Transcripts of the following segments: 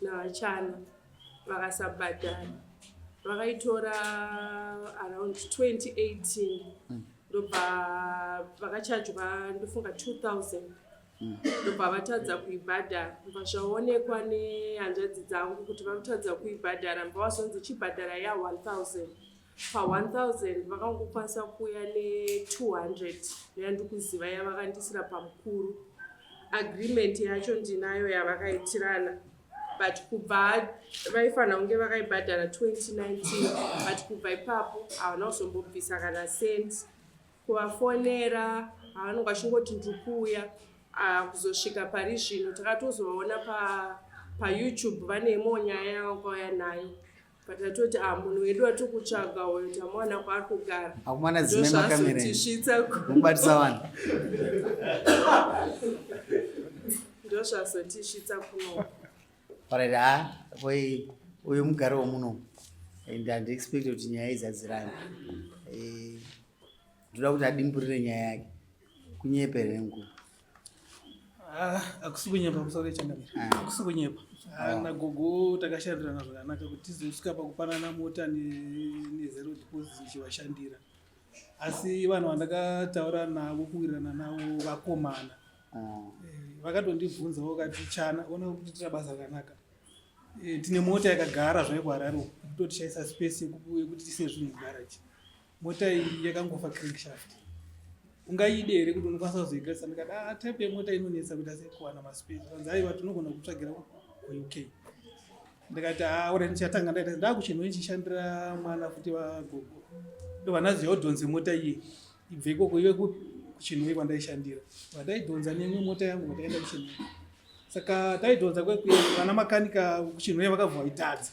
navachana vakasabhadhara vakaitora around 2018 mm. ndobva vakachajwa ndofunga 2000 mm. ndobva mm. vatadza kuibhadhara bva zvaonekwa nehanzvadzi dzangu kuti vakutadza kuibhadhara bva wazonzi chibhadhara ya 1000 pa 1000 vakangokwanisa kuuya ne200 yandikuziva yavakandiisira pamukuru agreement yacho ndinayo yavakaitirana but kubva vaifanira kunge vakaibhadhara 2019 but kubva ipapo havana kuzombobvisa kana cent kuvafonera havanonge vachingoti ndikuuya ah, kuzosvika pari zvino takatozovaona payoutube pa vane imwewo nyaya yavakauya nayo patatoti ah munhu wedu watiri kutsvaga uyo tamwana kwaari kugara akumana dzimai makameretisvitsa kubatisa vanhu ndozvazotisvitsa kuno parati ha ah, voi uyu mugari womuno and handiexpect kuti nyaya izadzirani eh, ndoda kuti adimburire nyaya yake kunyepere nguva Ah, akusi kunyepa musoro ichangamira ah. akusi kunyepa ah, ah. nagogo takashandirana zvakanaka kuti tizosvika pakupanana mota nezero deposit ndichivashandira asi vanhu vandakataura navo kuwirirana navo vakomana eh, vakatondibvunzawo kati chana ona kuti tira basa rakanaka eh, tine mota yakagara zvaikuhararo kutotishayisa space yekuti tise zvinhu mugaraji mota iyi yakangofa crankshaft ungaide here kuti unokwanisa kuzoigadzisa ndikati ah type yemota inonetsa kuita sei kuwana maspace vanzi aiwa tinogona kutsvagira kuuk ndikati ah ora ndichatanga ndaita ndakuchinhu ichishandira mwana futi vagogo ndovanazi yodhonze mota iye ibve ikoko ive kuchinhoi kwandaishandira vandaidhonza nemwe mota yangu vataenda kuchinhoi saka taidhonza kwekuya vana makanika kuchinhoi vakabva vaitadza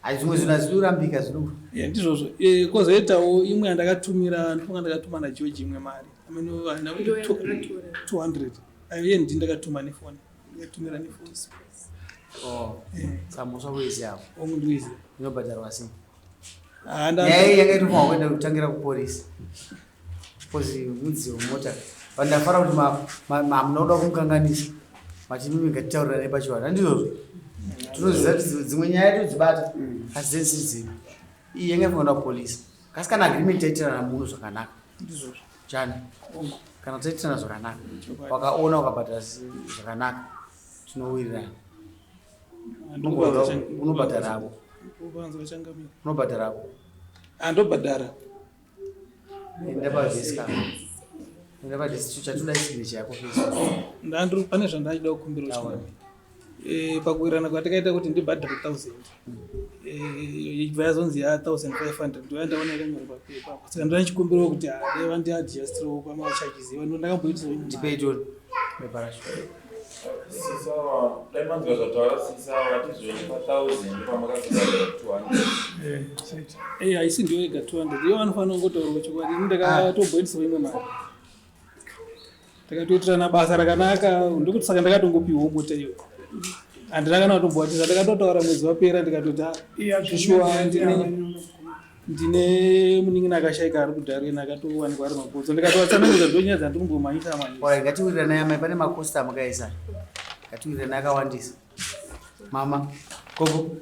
Hai zvimwe zvinhu hazvinorambika zvino. Yeah, ndizvozvo. Eh, kozoitawo imwe yandakatumira ndifunga ndakatuma na George imwe mari. I mean uh, na 200. Aiye ndi ndakatuma ne phone. Ndakatumira ne phone. Oh. Eh. Samusha kuizi hapo. Ongu ndizi. Ndinobhadharwa sei? Ah, ndanga. Yaiye yakaitwa kuenda kutangira ku police. Kozi mudzi wemota but ndafara kuti hamuna kuda kumukanganisa mati mimi ngatitaurirane pachivanhu andizvozvo tinoziva kuti dzimwe nyaya todzibata asi dzese dzino iyi yanga ifanira kupolisa kasi kana agreement taitirana muno zvakanaka chani kana taitirana zvakanaka wakaona ukabhadhara zvakanaka tinowirirana unobhadhara ako unobhadhara ako andobhadhara ndandiri pane zvandaida kukumbira eh, pakuwirirana kwatakaita kuti ndibhadhare thousand ibva eh, yazonzi ya thousand five hundred ndoya ndaona yakanyorwa pepa saka ndoda ndichikumbirawo kuti ah, dai vandiadjustirawo pamacharges iva ndodakamboitiswa Eh, haisi ndiyo yega 200 iyo vanofanira kungotaurwa chokwadi ini ndakatomboendiswa imwe mari takatoitirana basa rakanaka ndikuti saka ndakatongopiwa mota iyo handina kana kutomboatiza ndakatotaura mwedzi wapera ndikatoti ah, shuwa ndine ndine munin'ina akashaika ari kudarina akatowanikwa ari makodzo ndikatovatsanangidza ndonyaya dzandiri kumbomhanyisa mhanyisa ngatiwiriranai amai pane makosta mukaisa ngatiwiriranai akawandisa mama gogo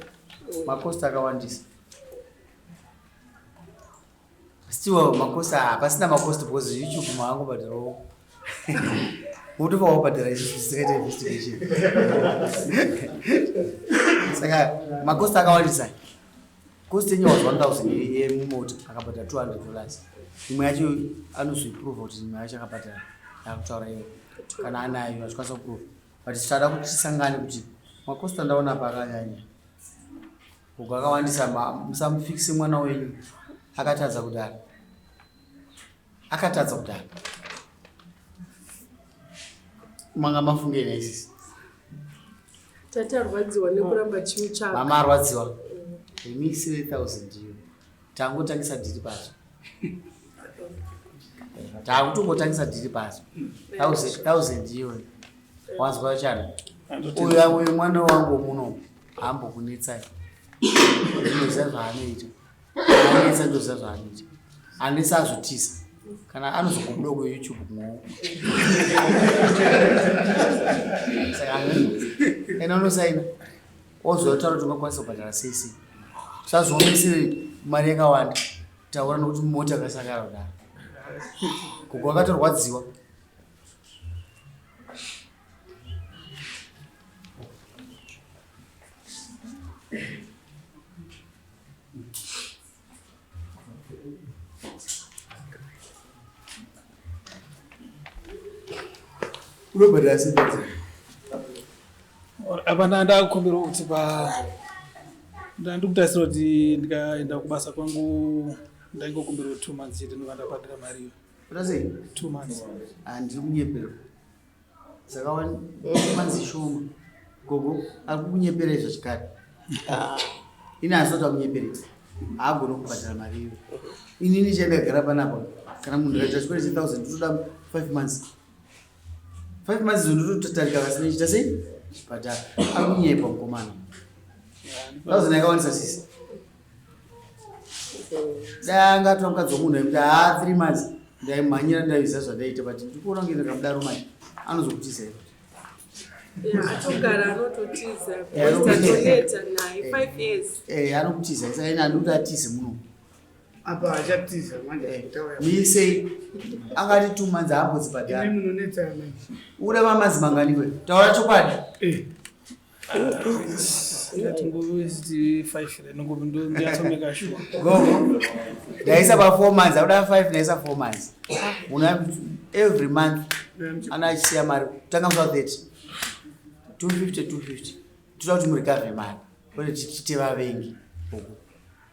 makosta akawandisa stiwa makosta hapasina makosta because youtube maango bhadhirawo unotofa wabhadhira izvi zvisikaita investigation saka makosta akawandisa cost yenyu was 1000 yemumota akabhadhara 200 dollars imwe yacho anozviprova kuti imwe yacho akabhadhara akutaura iwe kana anayo achikwanisa kuprova but tichada kuti tisangane kuti makosta ndaona pakanyanya uku akawandisa musamufikise mwana wenyu akatadza kudara akatadza kudaro manga mafungei naisisi tati arwadziwa nekuramba chiu chako mama arwadziwa imi 3000 iyo tangotangisa dhiri pacho takutongotangisa dhiri pacho 1000 iyo wanzwa chani uyu uyu mwana wangu muno hambokunetsai zvinoziva zvaanoita anetsa ndoziva zvaanoita anetsa azvotisa kana anozokubuda kuyoutube kumaoko saka ena unosaina ozotaura kuti ungakwanisa kubhadhara cc sazvionesiri mari yakawanda taura nokuti mota akasakara kudaro kuko akatorwadziwa unobhadhara sebaza apana ndakukumbirawo kuti pa ndandikutarisira kuti ndikaenda kubasa kwangu ndaingokumbirawo two months chete ndobva ndabhadhara mari iyo ndiri kunyeperwa saka wanzi shoma gogo ari kukunyepera izvo chikari ah, ini asati akunyeperedza haagone kubhadhara mari iyo inini chandagara panapa kana munhu akaita chikore chethousand ndotoda five months five months izo ndototatarika vasina chita sei chibhadhara ari kunyepa mukomana thousand yakawanisa sisi dai angatwa mukadzi wemunhu aikuti haa three months ndaimhanyira ndaiziva zvandaita but ndikuona kunge ndakamudaro mai anozokutiza ivo atogara anototiza atoneta naye five years eh anokutiza saka ina ndikuti atize muno apa achatiza manje eh, mise akati two months haambozibhadhara munonetsa mai uda mamazi mangani kwe taura chokwadi eh. ndaisa pafour months akuda five ndaisa four months una every month ana achisiya mari kutanga musa 30 250 250 toda kuti murikave mari ode tichite vavengi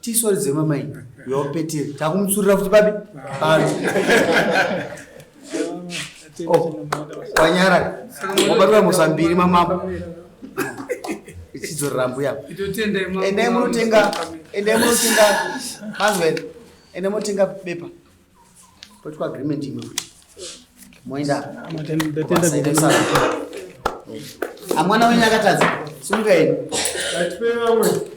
tisori dzema mai yopeteri takumutsurira futi babi kwanyara wabatwa mhosva mbiri mamambo ichidzorera mbuya endai munotenga endai munotenga mazwen endai munotenga bepa poitwa agreement imwe kuti moenda amwana wenyu akatadza simungaeni